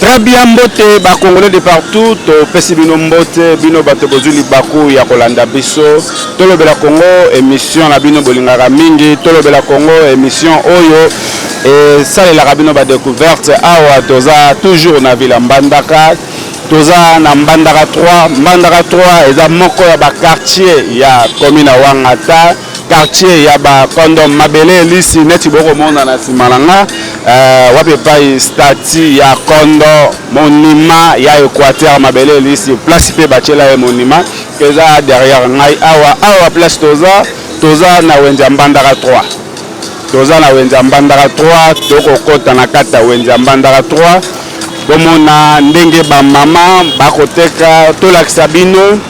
Très bien mbote ba congolais de partout topesi bino mbote bino bato bozwi libaku ya kolanda biso tolobela congo émission na bino bolingaka mingi tolobela congo émission oyo esalelaka bino badecouverte awa toza toujours na villa mbandaka toza na mbandaka 3 mbandaka 3 eza moko ya baquartier ya commune ya wangata quartier ya ba condom mabele elisi neti bokomona na nsima na nga uh, wapi epai stati ya kondo monima ya équateur mabele elisi place mpe batyela ye monima eza derrière ngai awa awa place toza toza na wenze ya mbandaka 3 toza na wenze ya mbandaka 3 tokokɔta na kati ya wenze ya mbandaka 3 bomona ndenge bamama bakoteka tolakisa bino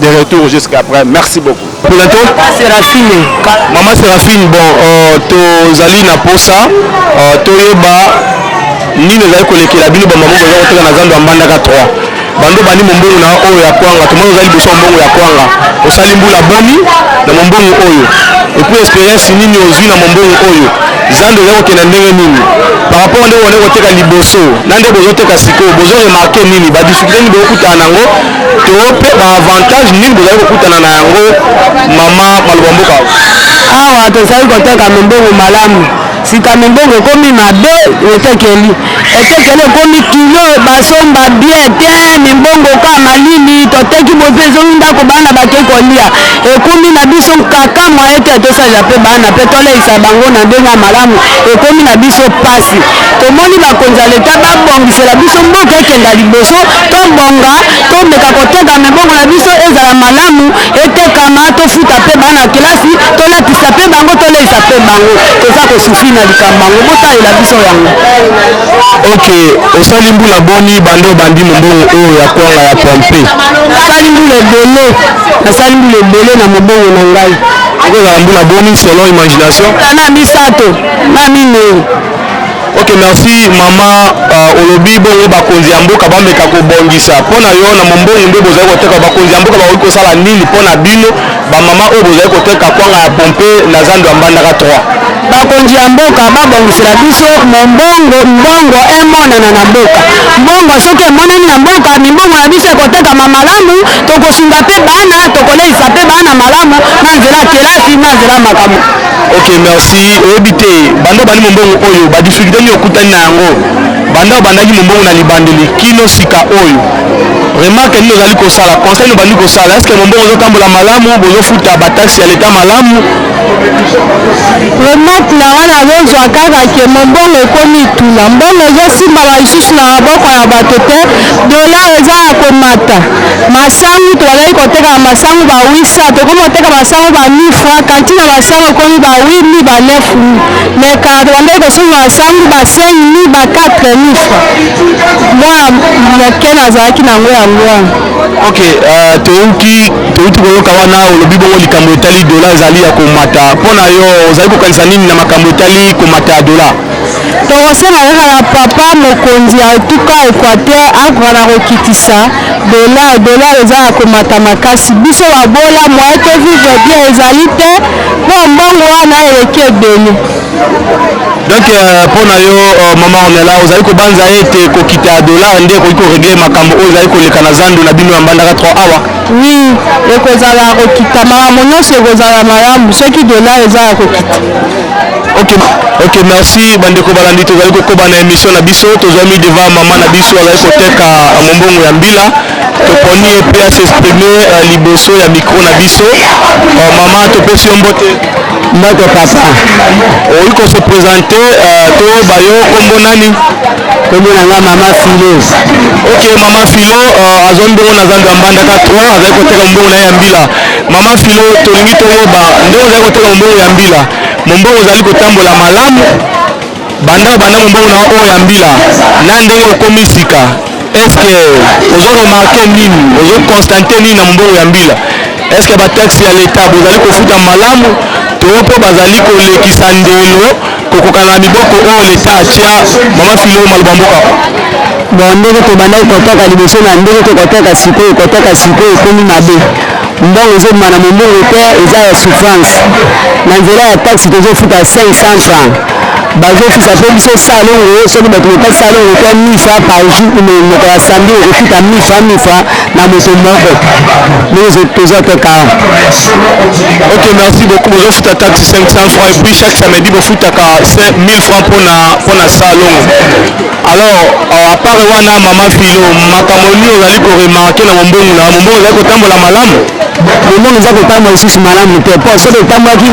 de retour jusqu'à après merci beaucoup Polato Serafine Maman Serafine bon euh, tozali na posa euh, toyeba nini ezali kolekela bino bamama boza koteka na zando ya mbandaka 3 bando bandi mombongo na oyo ya kwanga tomoni oza liboso ya mbongo ya kwanga osali mbula boni na mombongo oyo epuis experience nini ozwi na mombongo oyo zando ezali kokenda ndenge nini par rapport nde wana koteka liboso na nde bozoteka sikoyo bozo remarke nini badifficulté nini bokokutana nango to mpe ba avantage nini bozali kokutana na yango mama maloba mboka awa tozali koteka mimbongo malamu sika mimbongo ekomi mabe etekeli etekeli ekomi kilo basomba bie te mimbongo ka malili toteki bozo ezongi ndako bana bakei kolia ekomi na biso nkaka mwaye te tosalela mpe bana mpe toleisa bango na ndenge ya malamu ekomi na biso mpasi tomoni bakonzi ya leta babongisela biso mboka ekenda liboso tobonga tomeka koteka mibongo na biso ezala malamu etekama tofuta mpe bana kelasi tolatisa mpe bango toleisa mpe bango toza kosufi na likambo yango botalela biso yango ok osali mbula boni bande obandi mobongo oyo ya kwanga ya pompe nasali mbula ebele nasali mbula ebele na mobongo na ngai okozala mbula boni selon imagination na misato na minei ok merci mama uh, olobi bongo bakonzi ya mboka bameka kobongisa mpo na yo na mombongo nde bozali koteka bakonzi ya mboka bakoki kosala nini mpo na bino bamama oyo bozali koteka kwanga ya pompe na zando ya mbandaka 3 bakonzi ya mboka babongisela biso mombongo mbongo emonana na mboka mbongo soki emonani na mboka mimbongo na biso ekotekama malamu tokosunga mpe bana tokoleisa mpe bana malamu na nzela kelasi na nzela makambo Ok merci. Oyebi te banda obandi mombongo oyo ba difficulté nini okutani na yango banda obandaki mombongo na libandeli kino sika oyo remarque nini ozali kosala conseil nini obandi kosala eske mombongo ozotambola malamu bozofuta bataxe ya leta malamu remarque na wana azozwa kaka ke mombongo ekomi etula mbongo ezosimbama lisusu na maboko ya bato te dolar eza ya komata Masangu tobandaki koteka ba masangu ba 800 tokomi koteka masangu ba 1000 francs quantite ya masangu ekomi ba 8000 ba 9000 mais kala tobandaki kosomba masangu ba 5000 ba 4000 francs mwana moke nazalaki na yango yango wana. Ok uh, touti touti koyoka wana olobi bongo likambo etali dola ezali ya komata mpo na yo ozali kokanisa nini na makambo etali komata ya dola? Tokosenga kaka na papa mokonzi ya etuka Equateur akoka na kokitisa dollar. Dollar eza na komata makasi, biso babola moyen to vivre bien ezali te mpo mbongo wana eleki ebele. Donc euh, mpo na yo euh, mama Ornella ozali kobanza ete kokita ya dollar nde ekoki koregle makambo oyo ezali koleka na zando na bino ya mbandaka 3 awa? Oui, ekozala kokita makambo nyonso ekozala malamu soki dollar eza ya kokita. Ok, ok, merci bandeko balandi, tozali kokoba na emission na biso, tozwami devant mama na biso azali koteka mombongo ya mbila, toponi ye mpe asexprime uh, eh, liboso ya mikro na biso. Uh, mama topesi yo mbote. Mbote papa. Oyi ko se presente uh, eh, toyeba yo kombo nani? Kombo na nga mama Filo. Ok, mama Filo uh, azwa mbongo na zando ya mbandaka 3 azali koteka mbongo na ye ya mbila. Mama Filo, tolingi toyeba ndenge ozali koteka mombongo ya mbila, mombongo ozali kotambola malamu banda banda mombongo na oyo ya mbila na ndenge okomi sika, eske ozo remarke nini, ozo constante nini na mombongo ya mbila? Eske bataxe ya leta bozali kofuta malamu to mpo bazali kolekisa ndelo Kokokana na miboko oyo Leta atya, Mama Philo, maloba mboka. Bon, ndenge tobandaki kotaka liboso na ndenge to kotaka sikoyo, kotaka sikoyo ekomi mabe. Mbongo ezobima na mombongo te, eza ya souffrance. Na nzela ya taxi tozofuta 500 francs. Bazofisa mpe biso salongo, soki bato botaki salongo to 1000 francs par jour, mokolo ya samedi okofuta 1000 francs, 1000 francs. na moto moko ndenge toza kaka ok merci beaucoup bozofuta taxe 500 francs et puis chaque samedi bofutaka 1000 francs mpona mpona salon alors euh, à part wana mama filo makambo nini ozali koremarke na mombongo na mombongo ezali kotambola malamu mombongo eza kotambola lisusu malamu te mpo soki otambwaki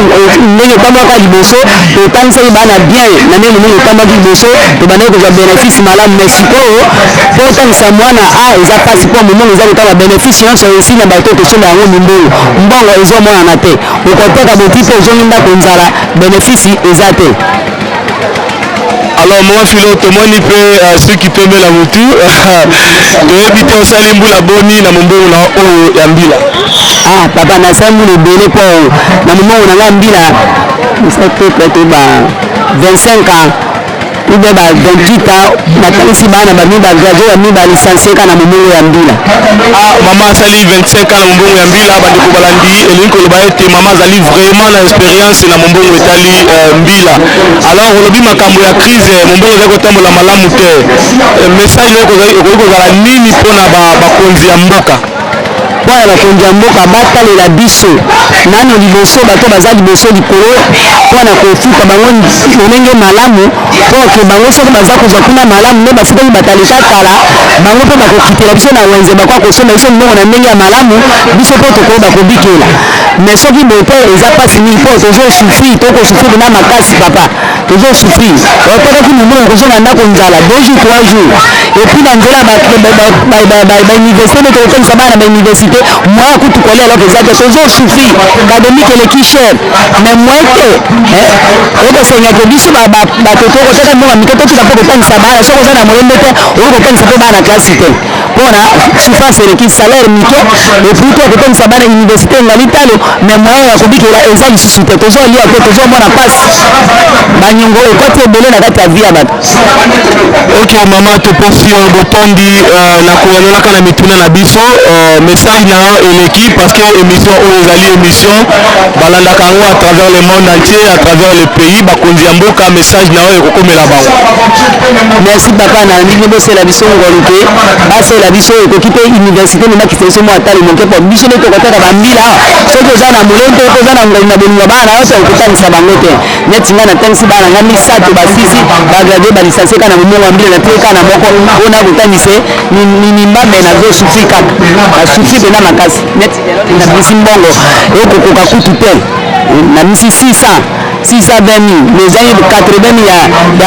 ndenge otambwaka liboso otangisaki bana bien na ndenge mombongo otambwaki liboso tobandaki kozwa bénéfice malamu mais sikoyo mpo otangisa mwana a ah, eza mpasi mpo momongo eza kotala benefice nyonso esi na bato totyela yango mimbongo mbongo ezomonana te okoteka boti mpe ozongi ndako nzala benefice eza te alors mama filo tomoni mpe euh, soki pembe na motu toyebi te osali mbula boni na mombongo na oyo ya mbila ah papa nasali mbula ebele mpo na mombongo na ngai mbila esa te prete ba 25 ans ube ba 28 ans natalisi bana bami bagrade bami balicencie kaka na mombongo ya mbila ah, mama asali 25 ans na mombongo ya mbila bandeko balandi elingi koloba ete mama azali vraiment na experience na mombongo etali euh, mbila alors olobi makambo ya crise euh, mombongo ezali kotambola malamu te euh, message okoki kozala nini mpona bakonzi ya mboka mpo ya bakonzi ya mboka batalela biso nano liboso bato baza liboso likolo mpo na kofuta bango lolenge malamu mpo ke bango soki baza kozwa kuna malamu nde bafutaki batalika kala bango mpe bakokitela biso na wenze bakoka kosomba biso mbongo na ndenge ya malamu biso mpe tokoyeba kobikela mais soki bote eza mpasi mingi mpo tozosufri tokosufri na makasi papa tozo souffrir bakotaki mumuna kozo na ndako nzala deux jours trois jours epuis na nzela bauniversité nde tokokomisa bana na bauniversité moyen kutu kolia eloko eza te tozo souffrir académique eleki cher mais moyen te okosengeke biso bato tokotaka mbongo mike totika mpo kotangisa bana soki oza na moyembe te okoki kotangisa mpe bana na klasi te pona souffrance eleki salaire mike epuis to kotangisa bana université engali talo mais moyen ya kobikela eza lisusu te tozwa lia te tozwa mwana pasi banyongo ekoti ebele na kati ya vie ya bato ok mama toposi yo botondi euh, na koyanolaka na mituna na biso euh, message na yo eleki parce que émission oyo ezali émission balandaka yango à travers le monde entier à travers le pays bakonzi ya mboka message na yo ekokomela bango Merci papa na ndenge bosela biso ngolu mpe basela biso ekoki mpe université nobakisa biso mwa talo moke mpo biso nde tokotaka bambila awa soki oza na molende mpe oza na ngolu na bolingo bana na yo te okotangisa bango te neti ngai natangisi bana ngai misato basisi bagrade balisanse kaka na momongo ya mbila na tie kaka na moko mpo na kotangisa mimame na zo sufi kaka basufi mpena makasi neti na bisi mbongo ekokoka kutu te na misi 600 620000 mais ezangi 80000 ya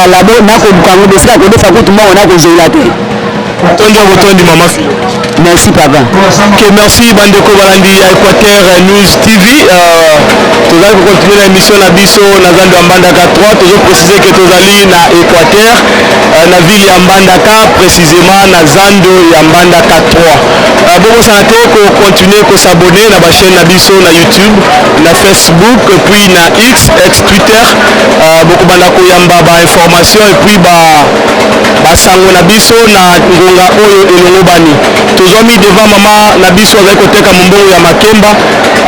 ya labo nako bukango bosika ko defa kutu mbongo nako zola te tondi ya botondi mama filo merci papa ok merci bandeko balandi ya équateur news tv euh, tozali kokontinue na émission na biso na zando ya mbandaka 3 tozo précise ke tozali na équateur euh, na ville ya mbandaka précisément na zando ya mbandaka 3 euh, bokosana te kokontinue kosabone na bachaîne na biso na youtube na Facebook puis na X ex Twitter uh, bokobanda koyamba ba information et puis ba basango na biso na ngonga oyo elongobani tozwami devant mama na biso azali koteka mombongo ya makemba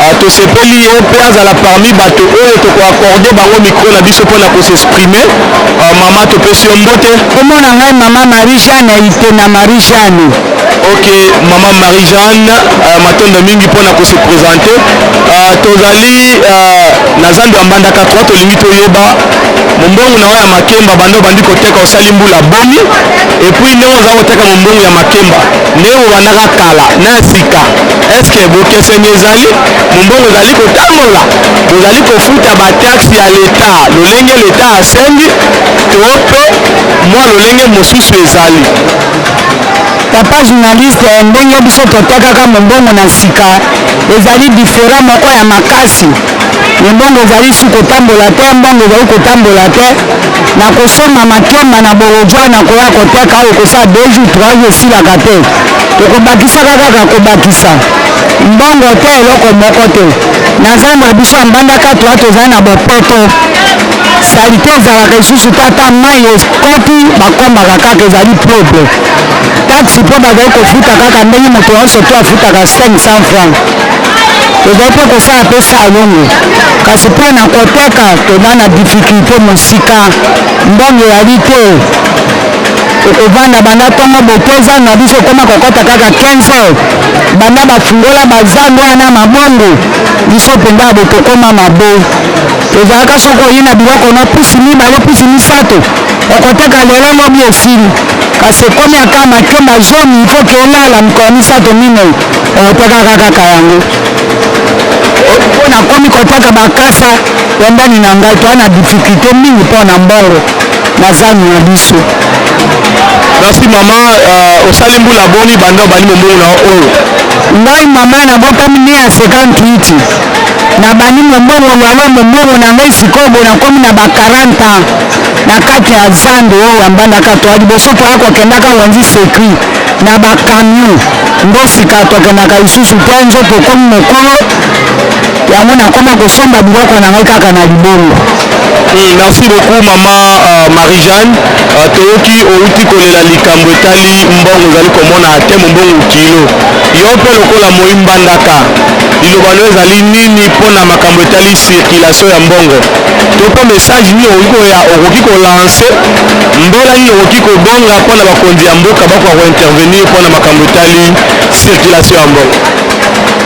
uh, tosepeli ye mpe azala parmi bato oyo tokoakorde bango mikro na biso mpo na kosexprime uh, mama topesi yo mbote komona ngai mama marie jeanne ite na marie jeanne Ok, maman Marie-Jeanne, euh, matondo mingi pona ko se présenter. Euh, tozali euh, na zando ya Mbandaka 3 tolingi toyeba mombongo na yo ya makemba bando bandi koteka osali mbula boni et puis ndenge oza koteka mombongo ya makemba ndenge bobandaka kala na sika est-ce que bokeseni ezali mombongo ezali kotambola bozali kofuta ba taxe ya leta lolenge leta asengi to pe mwa lolenge mosusu ezali Papa journaliste, ndenge biso totwakaka mombongo na sika ezali different moko ya makasi. Mombongo ezali su kotambola te, mbongo ezali kotambola te. Na kosomba makemba na bolodjwa na koya koteka oyo kosala deux jours trois jours esilaka te, tokobakisaka kaka kobakisa mbongo te eloko moko te. Na zando ya biso ya mbandaka toa tozali na bopeto. salite ezalaka lisusu te ata mai ekoti bakombaka kaka ezali propre taxi mpo bazali kofuta kaka ndenge moto nyonso to afutaka 500 franc tozali mpe kosala mpe salongo kasi mpo na koteka toza na difikilte mosika mbongo eyali te okovanda banda ntongo boke zando na biso ekoma kokɔta kaka 15 heures banda bafungola bazando wana mabongo biso mpenza bokokoma mabe Ezalaka soki oyina biloko na pusi mibale pusi misato okoteka lelo lobi esili kasi ekomi ata makemba zomi il faut que elala mikolo misato minei okotekaka kaka yango mpo nakomi koteka bakasa pembeni na ngai toa na difficulté mingi mpo na mbongo na zando na biso Merci mama, uh, osali mbula boni banda obandi mombongo na oyo? Ngai mama nabotami ne ya 58 nabandi mombongo lwalo mombongo na ngai sikoyo boye nakomi na ba 40 ans na kati ya zando oyo ya mbandaka toa liboso toya kokendaka wenzi secui na bacamion nde sika tokendaka lisusu te nzo tokomi mokolo yango nakoma kosomba biloko na ngai kaka na libongo Oui, merci beaucoup mama uh, Marie-Jeanne. Uh, toyoki outi kolela likambo etali mbongo ozali komona te mbongo kilo. Yo mpe lokola moyi mbandaka Liloba na yo ezali nini mpo na makambo etali circulation ya mbongo to mpe message nini okoki koya okoki kolancer mbela nini okoki kobonga mpo na bakonzi ya mboka bakoka kointervenir mpo na makambo etali circulation ya mbongo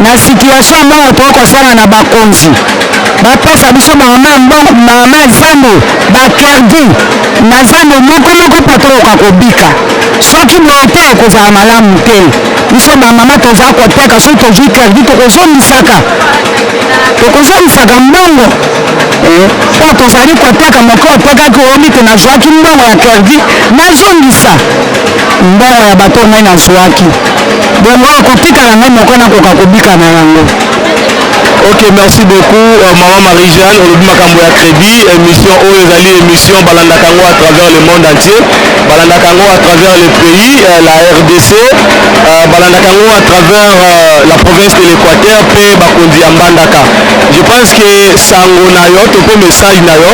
na situation ya mbongo tokoki kosala na bakonzi bapesa biso mama mbongo mama zambo bakerdi na zambo moko moko mpo tokoka kobika soki boye te ekozala malamu te biso ba mama toza koteka soki tozwi credit tokozongisaka tokozongisaka mbongo eh, po tozali koteka moko otekaki oyebi te nazwaki mbongo ya credit nazongisa mbongo ya bato ngai nazwaki bongo ekotikala ngai moko nakoka kobika na yango ok merci beaucoup euh, maman marie jeanne olobi makambo ya crédit émission oyo ezali émission balandaka yango à travers le monde entier balandaka yango à travers le pays euh, la rdc euh, balandaka yango à travers euh, la province de l'équateur mpe bakonzi ya mbandaka je pense que sango na yo to mpe message na yo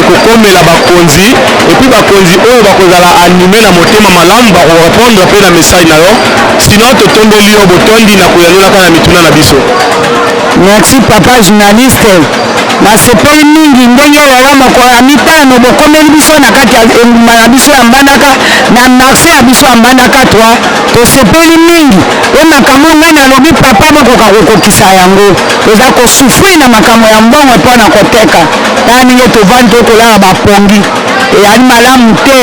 ekokomela bakonzi epuis bakonzi oyo bakozala anime na motema malamu bakorepondre mpe na message na yo sinon totombeli yo botondi na koyanolaka na mituna na biso merci papa journaliste Nasepeli mingi ndenge lelo mokolo ya mitano bokomeli biso na kati ya engumba na biso ya Mbandaka na marche na biso ya Mbandaka 3. Tosepeli mingi mpe makambo ngai nalobi papa bokoka kokokisa yango. Toza ko souffrir na makambo ya mbongo mpo na koteka. Tala ndenge tovandi toye kolala ba pongi. Eyali malamu te.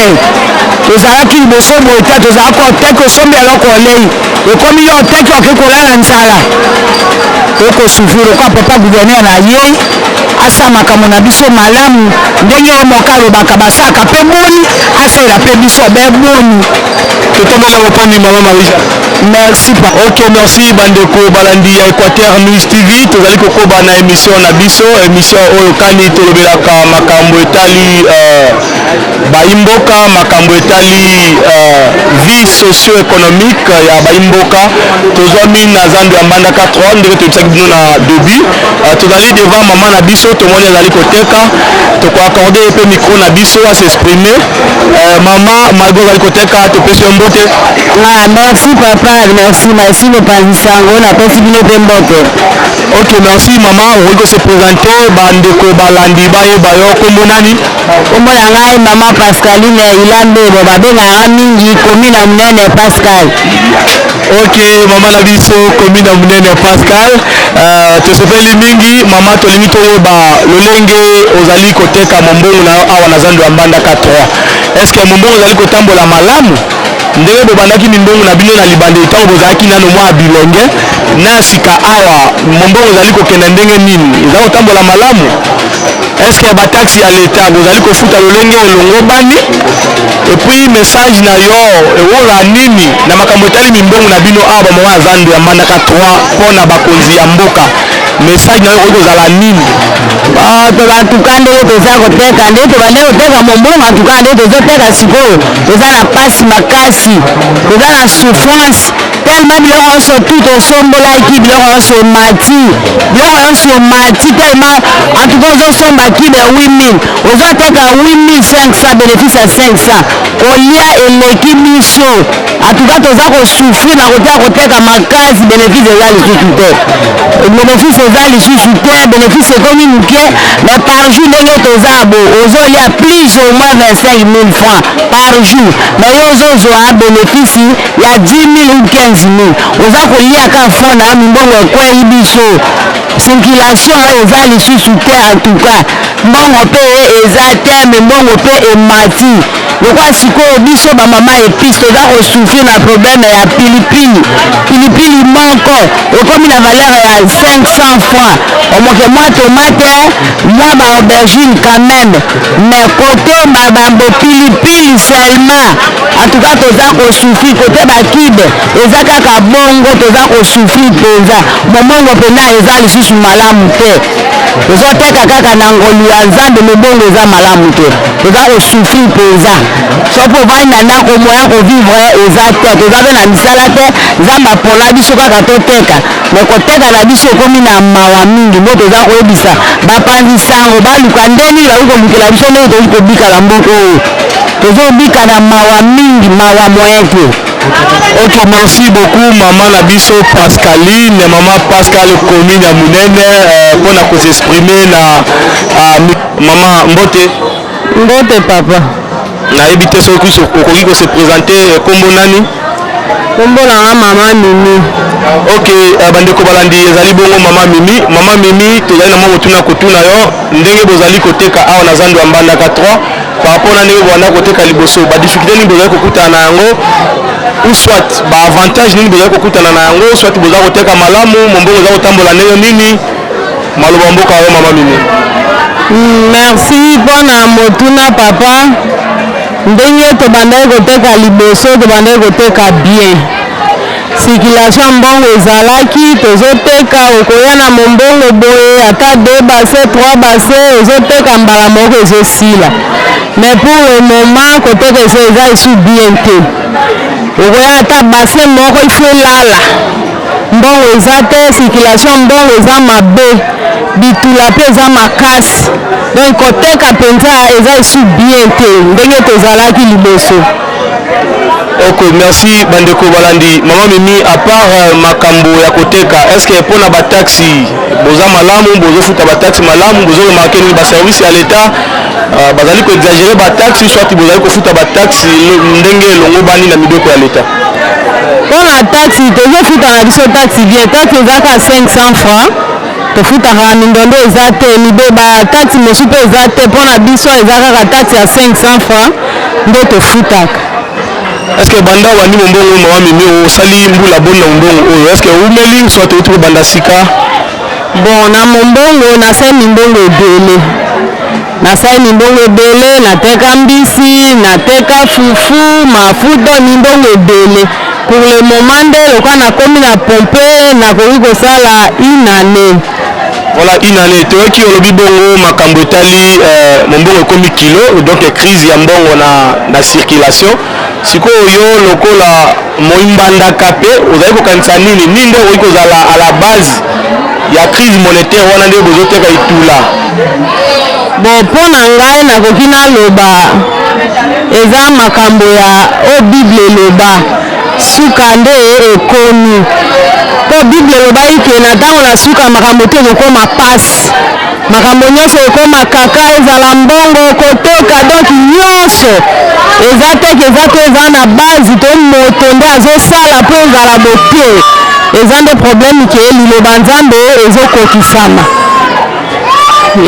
Tozalaki liboso boye te tozalaki koteka osombi eloko olei. ekomi yo te ki oke kolala nzala okosufrir lokola papa gouverneur na ye asala makambo na biso malamu ndenge ye moko alobaka basalaka mpe boni asalela mpe biso be boni totomboka mopanzi mama marie merci pa ok merci bandeko balandi ya équateur news tv tozali kokoba na émission na biso émission oyo kani tolobelaka makambo etali euh, Bayi mboka makambo etali vie socio economique ya bayi mboka tozwami na zando ya mbandaka 3 ndenge toyebisaki bino na debut tozali devant mama na biso tomoni azali koteka toko accorde ye pe micro na biso a s'exprimer euh, mama malgre ozali koteka topesi yo mbote ah, merci papa merci merci mopanzi sango napesi bino pe mbote ok merci mama okoki ko se presenter bandeko balandi bayeba yo kombo nani Kombo na ngai maman Pascaline Ilambebo babengaka mingi commune ya munene Pascal. Ok maman na biso commune ya munene Pascal uh, tosepeli mingi maman tolingi toyeba lolenge ozali koteka mombongo na yo awa na zando ya Mbandaka 3 est-ce que mombongo ozali kotambola malamu ndenge bobandaki mimbongo na bino na libanda ntango bozalaki nano mwa bilenge na sika awa mombongo ozali kokenda ndenge nini eza kotambola malamu eske ba taxe ya leta bozali kofuta lolenge elongobani epuis message na yo ewola nini na makambo etali mimbongo na bino awa bamama ya zando ya manaka 3 mpo na bakonzi ya mboka message na yo okoki kozala nini tobatuka oh, ndenge toza koteka nde tobande koteka mombongo antuka nde tozoteka sikoyo toza na mpasi makasi toza na souffrance tellement biloko yonso tout osombolaki biloko yonso emati biloko yonso emati tellement en tout cas ozosomba kilo ya 8000 ozoteka 8500 bénéfice ya 500 kolia eleki biso en tout cas toza kosouffrir na kotia koteka makasi bénéfice eza lisusu te bénéfice eza lisusu te bénéfice ekomi moke mais par jour ndenge toza bo ozolia plus au moins 25 000 francs par jour mais yo ozozwa bénéfice ya 10.000 ou 15.000 oza kolia ka franc na mbongo ekweyi biso circulation oyo eza lisusu te en tout cas mbongo mpe eza te me mbongo mpe emati lokola sikoyo biso bamama epice toza kosouffrir na probleme ya pilipili pilipili moko ekomi na valeur ya 500 francs omoke mwa tomate mwa baaubergine quand même mais kotomba bambo pilipili seulement En tout cas toza ko souffrir côté ba cube eza kaka bongo toza ko souffrir penza momongo pena eza lisusu malamu te tozo teka kaka na ngolu ya nzambe mobongo eza malamu te toza ko souffrir penza soki ovandi na ndako moya ko vivre eza te toza pe na misala te nzambe apola biso kaka toteka me koteka na biso ekomi na mawa mingi mpo toza koyebisa bapanzi sango baluka ndenge nini bakoki kolukela biso ndenge tokoki kobika na mboka oyo tozobika na mawa mingi mawa moyen te ok merci beaucoup mama na biso pascaline mama pascal commune ya monene euh, mpo na kosexprime na ah, mama mbote mbote papa nayebi te soki okoki kose présente euh, nkombo nani nkombo na nga mama mimi ok euh, bandeko balandi ezali bongo mama mimi mama mimi tozali na mwa motuna kotuna yo ndenge bozali koteka awa na zando ya mbandaka 3 par rapport na ndenge bowanda koteka liboso ba difficulté nini bozali kokutana na yango ou soit ba avantage nini bozali kokutana na yango soit boza koteka malamu mombongo eza kotambola ndenge nini maloba mboka yo mama mimi merci mpo na motuna papa ndenge tobandaki koteka liboso tobandaki koteka bien circulation ya mbongo ezalaki tozoteka okoya na mombongo boye ata deux base trois base ozoteka mbala moko ezosila mais pour le moment koteka eza eza esu bien te okoya ata base moko ifo elala mbongo eza te circulation mbongo eza mabe bitula mpe eza makasi donc koteka mpenza eza esu bien te ndenge tozalaki liboso ok merci bandeko balandi mama mimi à part euh, makambo ya koteka est ce que mpo na bataxi boza malamu bozofuta bataxi malamu bozoremarke nini baservice ya leta euh, bazali koexagere bataxi soit bozali kofuta bataxi ndenge elongobani na mibeko ya leta mpo na taxi tozofuta na biso taxi bien taxi ezaka 500 francs tofutaka mindondo eza te mibeba kati mosu mpe eza te mpo na biso eza kaka kati ya 500 francs nde tofutaka est-ce que banda obandi mombongo mawa mimi osali mbula boni na mombongo oyo est-ce que oumeli soit outi kobanda sika bon na mombongo nasali mimbongo ebele Nasali mimbongo ebele, nateka mbisi, nateka fufu, mafuta, mimbongo ebele. Pour le moment nde lokola nakomi na pompe, nakoki kosala une annee. Voilà une année. Toyoki olobi bongo makambo etali euh, mombongo ekomi kilo, donc crise ya mbongo na, na circulation. Sikoyo yo lokola moimbandaka pe ozali kokanisa nini nini nde okoki kozala à la base ya crise monétaire wana nde bozoteka itula bon mpo na ngai nakoki naloba eza makambo ya o oh, bible eloba suka nde ekomi mpo bible elobaki ke na ntango na suka makambo te ekokoma mpasi makambo nyonso ekoma kaka ezala mbongo kotoka donc nyonso eza teke eza te eza na base to moto nde azosala mpo ezala bote eza nde problème ke liloba nzambe ezokokisama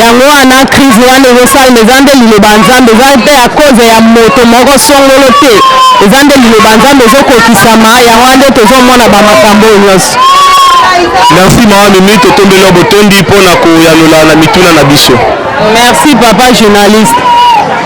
yango wana crise wana ezosalema eza nde liloba nzambe eza mpe ya koze ya moto moko songolo te eza nde liloba nzambe ezokokisama yango wana nde tozomona bamakambo oyo nyonso Merci maman Mimi, totombeli yo botondi mpo na koyanola na mituna na biso. Merci papa journaliste.